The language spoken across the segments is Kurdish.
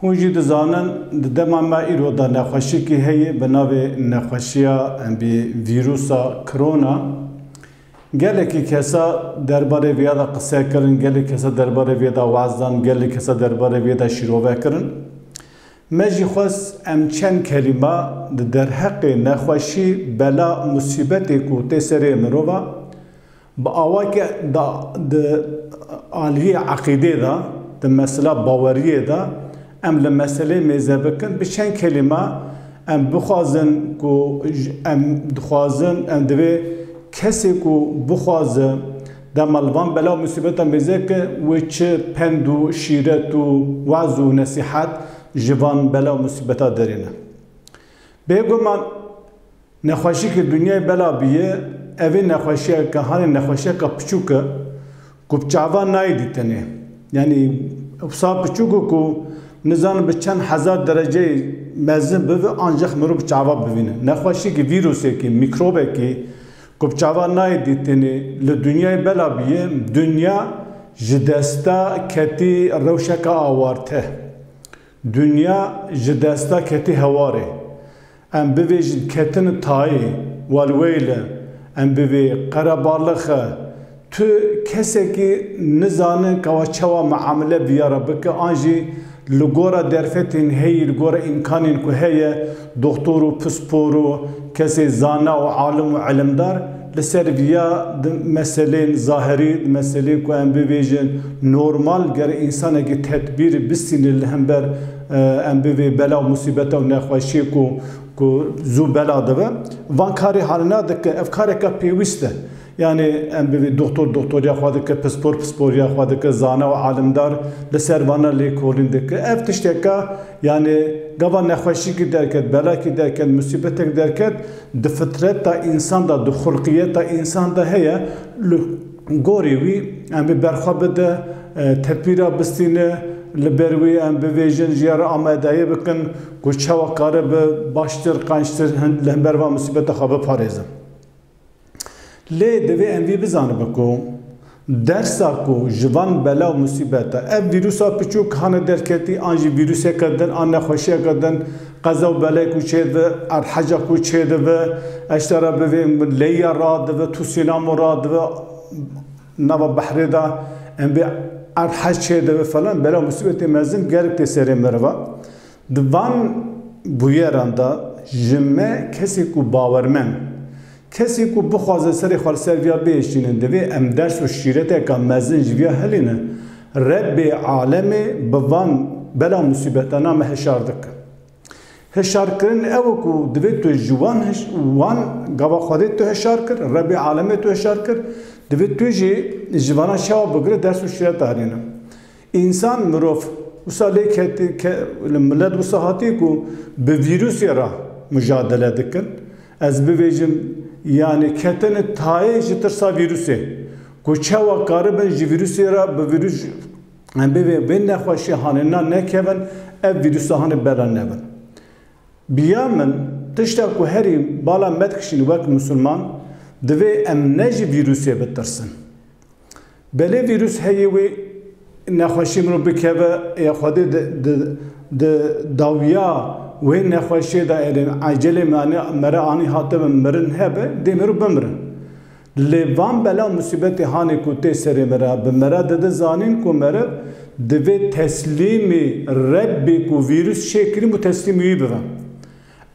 Hûn jî dizanin di dema me îro de nexweşiyekî heye bi navê nexweşiya embê vîrûsa Krona. Gelekî kesa derbarê vê ya de qise kirin, gelê kesa derbarê vê de waz dan, gelê kesa derbarê vê de şîrove kirin. Me jî xwest em çend kelîme di derheqê nexweşî, bela, musîbetê ku tê serê mirova, Bi awayke da di aliyê eqîdê da, di mesela baweriyê da, em li meseleyê mêze bikin, bi çend kelîme em bixwazin ku em dixwazin, em divê kesê ku bixwaze dema li van bela û musîbetan mêze ke wê çi pend û şîret û waz û nesîhet ji van bela û musîbeta derîne. Bêguman. Nexweşî ke dinyayê bela bîye, evê nexweşîya ke hanê nexweşîyeka piçûk e ku bi çavan nayê dîtinê. Yanî wisa piçûk e ku nizanim bi çend hezar dereceyê mezin bibe ancax mirov bi çavan bivîne. Nexweşîyekî, vîrûsekî, mîkrobekî ku bi çavan nayê dîtinê li dinyayê bela bîye, dinya ji desta ketî rewşeke awarte. Dinya ji desta ketî hewarê. Em bivêjin ketine tayê, welweyle, em bi vê qerebalixê tu kesekî nizane kawa çawa miamile biyara bike an jî li gora derfetên heyî li gora îmkanên ku heye, Doxtor û pispor û kesê zana û alim û ilimdar li ser viya di meselên zahirî, di meselên ku em bibêjin normal ger însanekî tedbîr bistîne li hember em bi vê bela û musîbeta û nexweşiyê ku ku zû bela dibe, van karê hanina dikin. Ev kareke pêwîst e. Yanê em bi vê doxtor doxtoriya xwe dike, pispor pisporiya xwe dike, zana û alimdar li ser vana lêkolîn dike. Ev tişteke Yanî gava nexweşîkî derket, belakî derket, musîbetek derket di fitreta însan de, di xulqiyeta însan de heye. Li gorî wî em ê berxwe bide, tedbîra bistîne, li ber wî em bivêjin, ji ya re amadeyî bikin ku çawa karibe baştir, qençtir li hember van musîbeta xwe biparêzin. Lê divê em vî bizanibe ku dersa ku ji van bela û musîbeta ev vîrûsa piçûk hane derketî an jî vîrûseke din an nexweşiyeke din qeza û belê ku çêdibi, erheca ku çêdibi, eşta re bivê leyya radibi, tûsînamo radibi nava behrê de em vê erhec çêdibi falan bela û musîbetê mezin gelek tê serê meriva. Di van bûyeran de ji me kesê ku bawermend, kesê ku bixwaze serê xwe li ser vîya bihişîne divê em ders û şîreteke mezin ji vîya helîne. Rebbê alemê bi van bela musîbetana me hişar dike. Hişarkirin ew e ku divê tu ji wan wan gava Xwedê tu hişar kir, Rebbê alemê tu hişar kir, divê tu jî ji vanan şewa bigire ders û şîreta herîne. Însan, mirov, wisa lê ketî ke li milet wisa hatî ku bi vîrûsê re mujadele dikin, ez bibêjim yanî ketine tayê ji tirsa vîrûsê ku çawa karibin ji vîrûsê re bi vîrûs em bivê vê nexweşî hanê na nekevin ev vîrûsa hanê bela nevin. Biya min tişta ku herî bala me dikişîn wek misilman divê em ne ji vîrûsê bitirsin. Belê vîrus heye wê nexweşiyê mirov bikeve ya Xwedê di dawiya wê nexweşiyê de erê ecelê mere anî hate be mirin hebe dê mirov bimirin. Lê van bela û musîbetê hanê ku tê serê mere bi mere de di zanîn ku mere divê teslîmê Rebbê ku vîrus şê kirîbû teslîmê wî bibe.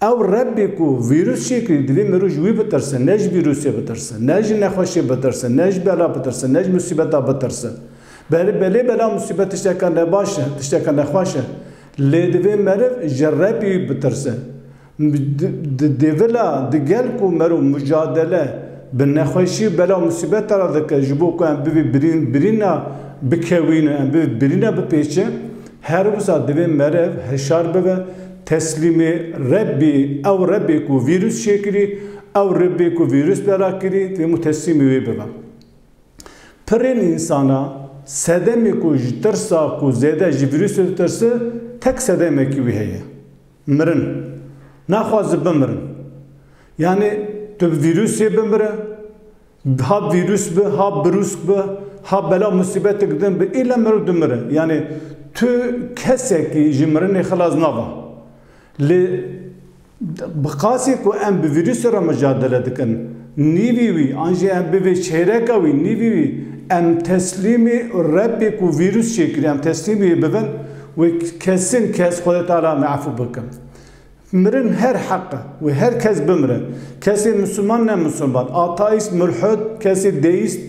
Ew Rebbî ku vîrus çê kirî divê mirov ji wî bitirse, ne ji vîrusê bitirse, ne ji nexweşê bitirse, ne ji bela bitirse, ne ji musîbeta bitirse. Belê belê bela û musîbet tişteke nebaş e, tişteke nexweş e. Lê divê meriv ji Rebbî bitirse. Di dêvila di gel ku merov mucadele bi nexweşî û bela û musîbete re dike ji bo ku em bibê birîn birîna bikewîne, em bibê birîna bipêçe, Her wisa divê merev hişar bibe, teslîmê Rebbî, ew Rebbê ku vîrus çêkirî, ew Rebbê ku vîrus bela kirî, divê hemû teslîmê wê bibe. Pirên însan a, sedemê ku ji tirsa ku zêde ji vîrusê ditirse, tek sedemekî wî heye. Mirin. Naxwaze bimirin. Yanî tu bi vîrusê bimire. Ha vîrus bi, ha birûsk bi, ha bela musîbetik din bi, île mirov dimire. Yanî tu kesekî ji mirinê xilas naba. Lê bi qasî ku em bi vîrusê re micadele dikin, nîvî wî an jî em bivê çêreka wî, nîvî wî em teslîmê Rebbê ku vîrus çêkiriye, em teslîmê wê bibin, wê kesin kes Xwedê Teala em ê efû bikin. Mirin her heq e wê her kes bimire. Kesê Misliman ne Misliman, Ataîst, Mulhid, kesê Deîst,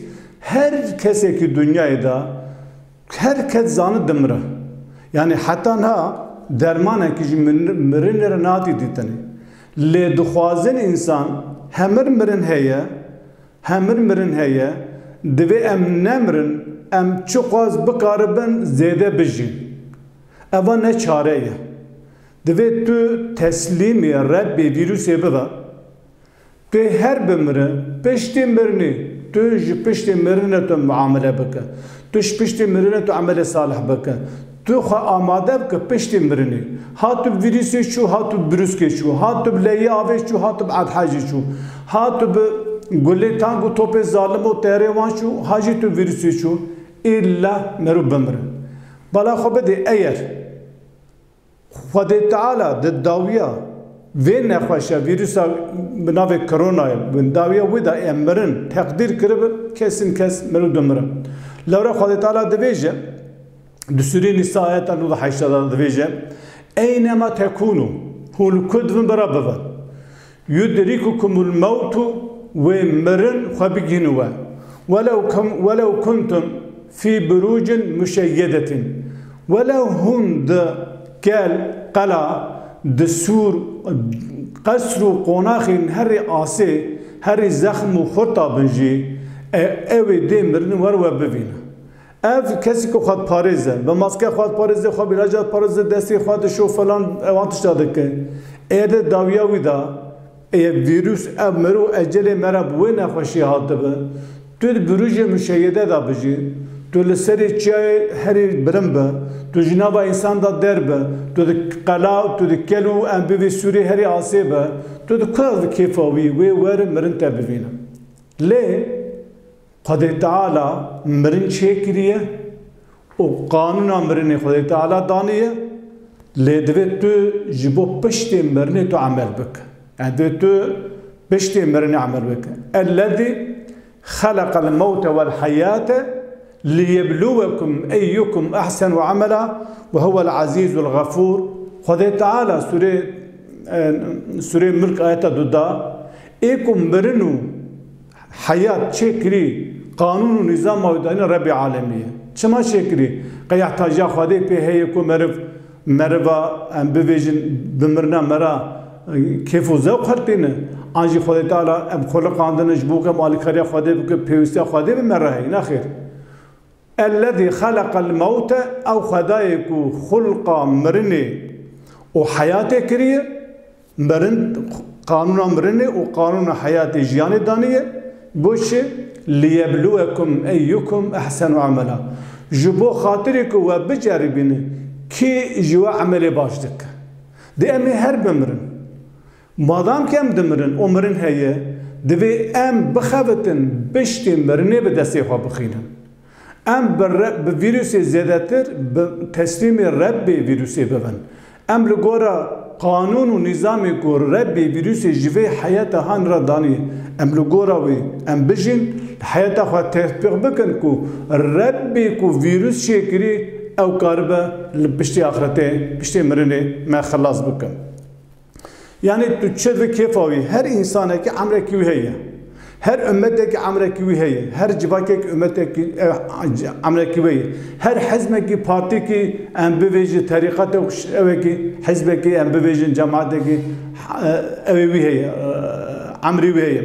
her kesekî dinyayê de her kes zanî dimire. Yanî heta niha dermanekî jî mirinê re nehatî dîtinê. Lê dixwazin însan hemir mirin heye, hemir mirin heye, divê em nemirin, em çiqas bikaribin zêde bijîn. Eva ne çare ye. Divê tu teslîmê Rebbê vîrûsê bibe. Tu her bimirin, piştî mirinê tu ji piştê mirinê tu miamele bike. Tu ji piştê mirinê tu emelê salih bike. Tu xwe amade bike piştê mirinê. Ha tu bi vîrûsê çû, ha tu bi birûskê çû, ha tu bi leyê avê çû, ha tu bi edhejê çû, ha tu bi gulê tang û topê zalim û terê wan çû, ha jî tu bi vîrûsê çû, îlla merû bimire. Bala xwe bidê eyer. Xwedê Teala di dawiya vê nexweşa vîrûsa bi navê Koronayê bin dawiya wê de yên mirin teqdîr kiribi kesên kes mirov dimirin. Lewre Xwedê Teala dibêje di sûrê Nîsa ayeta nû û heşt de dibêje, Eynema tekûnû, hûn li ku divin bi re bivin. Yudrikukum ul mewtu wê mirin xwe bigihînin we welew welew kuntum fî burûcin muşeyyedetin welew hûn di kel, qela, di sûr, qesr û qonaxên herî asê, herî zexm û xurt a bin jî, e ewê dê mirin wer we bivîne. Ev kesî ku xwedparêz e. Bi maske xwe diparêze, xwe bîraca diparêze, destê xwe dişo falan ew van tişta dike. Eger di dawiya wî de ev vîrus, ev mirov ecelê me re bi wê nexweşiyê hatibe, tu di birûjê muşeyede de bijî, tu li serê çiyayê herî bilind be, tu ji nava însan de derbe, tu di qela, tu di kel û em bivî Sûriyê herî asê be, tu di ku ew di kêfa wî wê wer mirin te bivîne. Lê. Xwedê Teala mirin çêkiriye û qanûna mirinê Xwedê Teala daniye, lê divê tu ji bo piştê mirinê tu emel bike. Yanî divê tu piştê mirinê emel bike. Ellezî xeleqel mewte wel heyate liyebluwekum eyyukum ehsenu emela ve huvel ezîzul xefûr. Xwedê Teala sûrê Sûreyê Mulk ayeta du da, Ê ku mirin û Heyat çêkirî qanûn û nîzama wî dayîne Rebbê alemî ye. Çima çêkirî? Qeyeh tajiya Xwedê pê heye ku meriv meriva em bivêjin bimirina me re kêf û zewq hertîne. An jî Xwedê Teala em xwe riqandine ji bo ku em alîkariya Xwedê bikin, pêwîstiya Xwedê bi me re heye? Nexêr. Ellezî xeleqel mewte, ew xwedayê ku xulqa mirinê û heyatê kiriye, mirin qanûna mirinê û qanûna heyatê jiyanê daniye, got jî, Liyebluwekum eyyukum ehsenu emela, ji bo xatirê ku we biceribîne kî ji we emelê baş dike. Dê em ê her bimirin. Madam kem dimirin û mirin heye, divê em bixebitin piştî mirinê bi destê xwe bixwînin. Em bi re bi vîrûsê zêdetir bi teslîmê Rebbê vîrûsê bibin. Em li gora qanûn û nîzamê ku Rebbê vîrûsê ji vê heyeta han re danî em li gora wî em bijîn, li heyeta xwe tetbîq bikin ku Rebbê ku vîrûs çêkirî ew karibe li piştî axretê, piştê mirinê me xilas bikin. Yanî tu çi bi kêfa wî, her însanekî emrekî wî heye. Her ummetekî emrekî wî heye. Her civakekî ummetekî emrekî wê ye. Her hizmekî, partîkî em bivêjin, terîqetek û şevekî, hizbekî em bivêjin, cematekî ewê wî heye, emrî wî heye.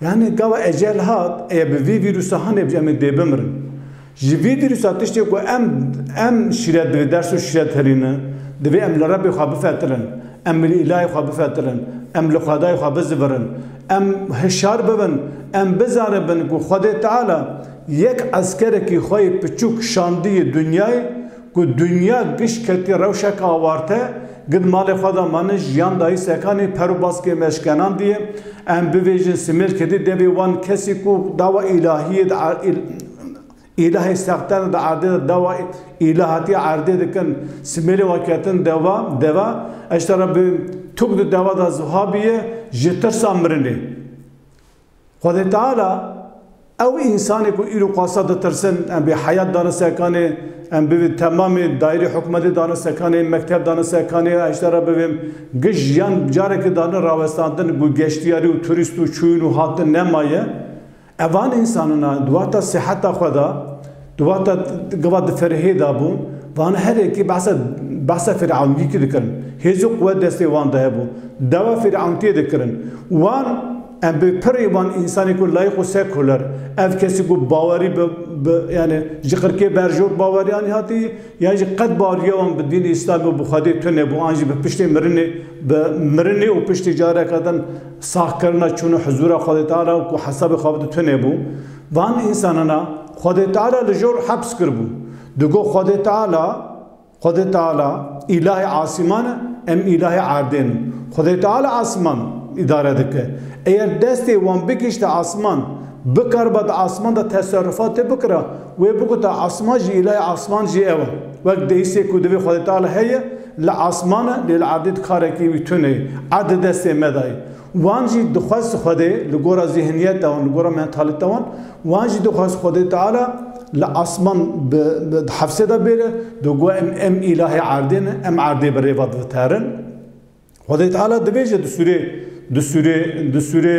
Yanî gava ecel hat, eya bi vî vîrusa hanebîj em ê dê bimirin. Ji vî vîrusa tiştê ku em em şîret divê ders û şîret herîne, divê em li Rebbê xwe bifetirin, em li îlahê xwe bifetirin, em li Xwedayê xwe bizivirin, em hişyar bibin, em bizanibin ku Xwedê Teala yek eskerekî xwe yê piçûk şandiyê dinyayê, Ku dinya giş ketî rewşeke awarte, gid malê xwe de manin jiyan dayî sekanê per û baskê me şkenandiye, em bivêjin simêl ketî devê wan kesî ku dawa îlahiyê di îlahê sexte de di erdê de dawa îlahatî erdê dikin simêlê wan ketin dewa deva eştera bi tûk di dewa de zihabiye ji tirsa mirinê. Xwedê Teala, ew însanê ku îro qasa ditirsin, em bê heyat dane sekanê, em bivê temamê, dayirê hikûmetê dane sekanê, mekteb dane sekanê, heşda re bivêm, gij yan careke dane rawestandin ku geştyarî û turîst û çûyîn û hatin nemaye. Evan însanan a di wexta siheta xwe de, Di wexta gava di ferehê de bû, van herekî behsa behsa firawniyîkî dikirin. Hêz û quwet destê wan de hebû. Dawa firawnitiyê dikirin. Wan em bi pirrî wan însanê ku layîq û sekuler, ev kesî ku bawerî bi bi yanî ji qirkê berjor baweriyanî hatî yan jî qet baweriya wan bi dînê îslamî û bi Xwedê tune bû an jî bi piştê mirinê bi mirinê û piştî careke din saxkirina çûna huzûra Xwedê Teala û ku hesabê xwe bide tune bû. Van însanana Xwedê Teala li jor heps kiribû. Digo Xwedê Teala, Xwedê Teala, Îlahê asîman e, em îlahê erdên in. Xwedê Teala asîman îdare dike. Eger destê wan bigihîşte asîman, bikariba di asîman de teserrûfatê bikira, wê biguta asîman jî îlahê asîman jî ew e. Wek dehîsê ku divê Xwedê Teala heye, li asîman e, lê li erdê de karekî wî tune ye. Erd di destê me de ye. Wan jî dixwest Xwedê li gora zîhniyeta wan, li gora mentalîta wan, wan jî dixwest Xwedê Teala li asman bi di hefsê de bêre, do got em em îlahê erdê ne, em erdê bi rêva diviterin. Xwedê Teala dibêje di sûrê di sûrê di sûrê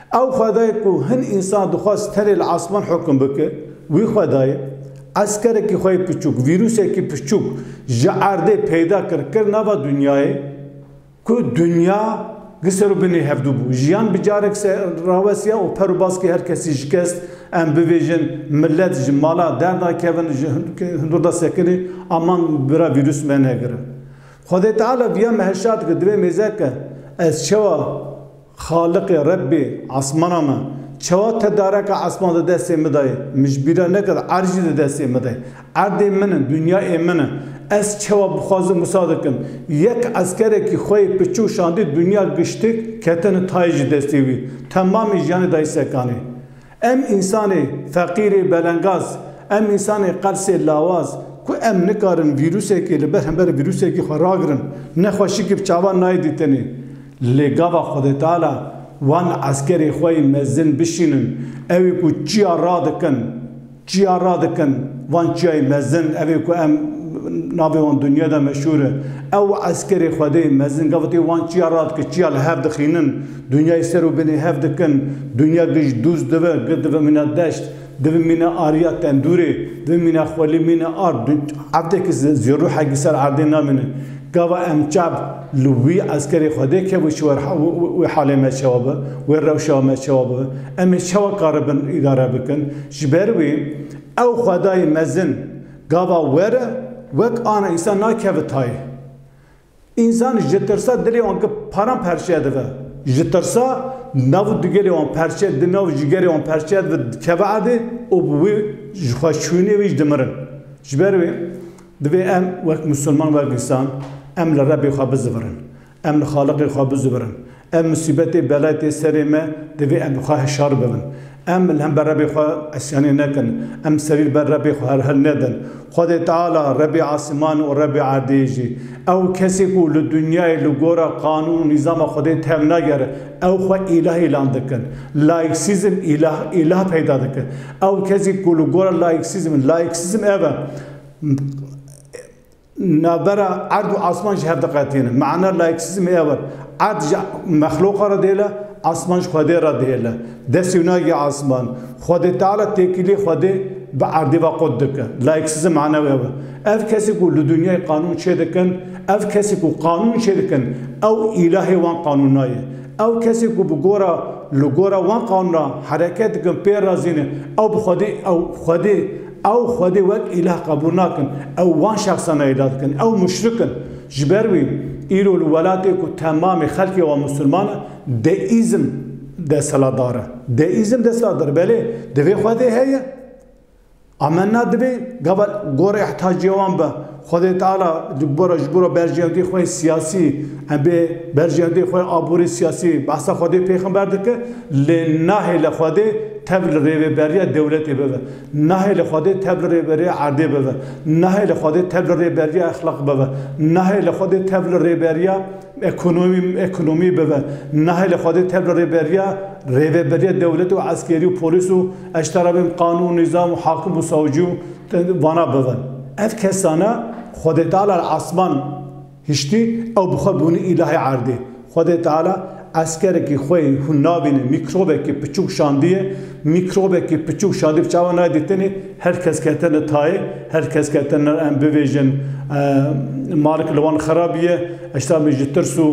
Ew xwedayê ku hin însan dixwest tenê li asman hukm bike, wî xwedayê, eskerekî xwe yê piçûk, vîrûsekî piçûk ji erdê peyda kir, kir nava dinyayê ku dinya gi ser û binê hevdû bû. Jiyan bi carek serawesiya û per û baskê her kesî şikest, em bibêjin, milet ji mala derda kevin, ji hundirda sekinê, aman bira vîrûs me negirin. Xwedê Teala viya meheşa dike, divê mêze ke, ez çawa Xaliqê, Rebbê, esmana me, çawa tedareka esman di destê min de ye? Min ji bîr re nekir erd jî di destê min de ye. Erdê min e, dinyayê min e. Ez çawa bixwazim wisa dikim. Yek eskerekî xwe yê piçûk şandî dinya giştik, ketine tayê ji destê wî. Temamê jiyanê dayî sekanê. Em însanê feqîrê belengaz, em însanê qelsê lawaz ku em nikarin vîrûsekê li ber hember vîrûsekî xwe ragirin, ne xwe şikî bi çavan nayê dîtinê. Lê gava Xwedêteala wan eskerê xwe yê mezin bişînin, ew ê ku çiya radikin, çiya radikin, van çiyayê mezin, ev ê ku em navê wan dinya de meşhûr e. Ew eskerê Xwedê mezin gavitê wan çiya radike, çiya li hev dixînin. Dunyayê ser û binê hev dikin, dunya giş dûz dive, gi dive mîna deşt, divi mîna ariya tendûrê, divi mîna xwelî mîna ard, du evdekî zî ruhekî ser erdê namînin. Gava em çav li wî eskerê Xwedê kevû çi war wê halê me çawa bi, wê rewşa me çawa bi, em ê çawa karibin îdare bikin. Ji ber wî ew Xwedayê mezin gava were wek ana însan nakeve tayê. Însan ji tirsa dilê wan ki paran perçiye dive. Ji tirsa nav û digêlê wan perçiye di nav jigerê wan perçiye dive dikeve erdê û bi wê ji xwe şûnê wî jî dimirin. Ji ber wê divê em wek misilman wek însan em li Rebê xwe bizivirin. Em li Xaliqê xwe bizivirin. Ev musîbetê bela tê serê me, divê em bi xwe hişar bibin. Em li hember Rebê xwe isyanê nekin, em serî li ber Rebê xwe herhil nedin. Xwedê Teala, Rebê asîman û Rebê erdê jî, ew kesê ku li dinyayê li gora qanûn û nîzama Xwedê tev nagere, ew xwe îlah îlan dikin. Laîksîzm îlah îlah peyda dike. Ew kesî ku li gora laîksîzm, laîksîzm ev e, Navbera erd û asman jî hev diqetînin. Mana laîksîzmê ew e. Erd ji mexlûqa re dihêle, asman ji Xwedê re dihêle. Destê wî nagê asman. Xwedê Teala têkiliyê Xwedê bi erdê ve qut dike. Laîksîzm mana wê ew e. Ev kesî ku li dinyayê qanûn çêdikin, ev kesî ku qanûn çêdikin, ew îlahê wan qanûna ye. Ew kesî ku bi gora li gora wan qanûna hereket dikin, pê razîn e, ew bi Xwedê ew Xwedê Ew Xwedê wek îlah qebûl nakin, ew wan şexsan nayêda dikin, ew muşrik in. Ji ber wî îro li welatê ku temamê xelkê wan misliman in, deîzm desthilatdar e. Deîzm desthilatdar e, belê divê Xwedê heye. Amenna divê gava gora îhtacê wan be. Xwedê Teala di gora ji gora berjeyandî xwe yê siyasî em bê berjeyandî xwe yê aborî siyasî behsa Xwedê pêxember dike lê nahêle Xwedê tev li rêveberiya dewletê bibe. Nahê li Xwedê tev li Rêberê erdê bibe. Nahê li Xwedê tev li Rêberiya Exlaq bibe. Nahê li Xwedê tev li Rêberiya Ekonomî Ekonomî bibe. Nahê li Xwedê tev li Rêberiya Rêveberiya Dewletê û Eskerî û Polîs û Eştera bên Qanûn û Nîzam û Hakim û Sawcî û vana bibe. Ev kesane Xwedêteala li esman. Hiştî ew bi xwe bûnî îlahê erdê. Xwedê Teala eskerekî xwe yê hûn nabînin mîkrobekî piçûk şandiye. Mîkrobekî piçûk şandî bi çavan nayê dîtinî. Her kes ketine tayê, her kes ketine em bivêjin malek li wan xera bûye. Eşta min ji tirs û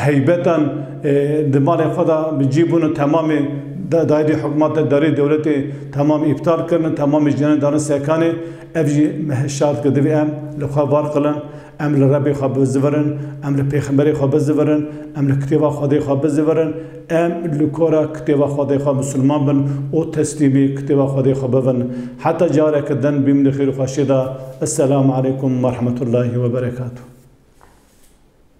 heybetan di malên xwe de bi cî bûn û temamê dairê hikûmatê, dairê dewletê temamê îptal kirin, temamê jiyanê dane sekanê. Ev jî me hişyar dike divê em li xwe var qilin. Em li Rebê xwe bizivirin, em li Pêxemberê xwe bizivirin, em li Kitêba Xwedê xwe bizivirin, em li kora Kitêba Xwedê xwe misilman bin û teslîmî Kitêba Xwedê xwe bibin. Heta careke din bîm di xêr û xweşiyê de. Esselam aleykum werhemetûllahî weberekatû.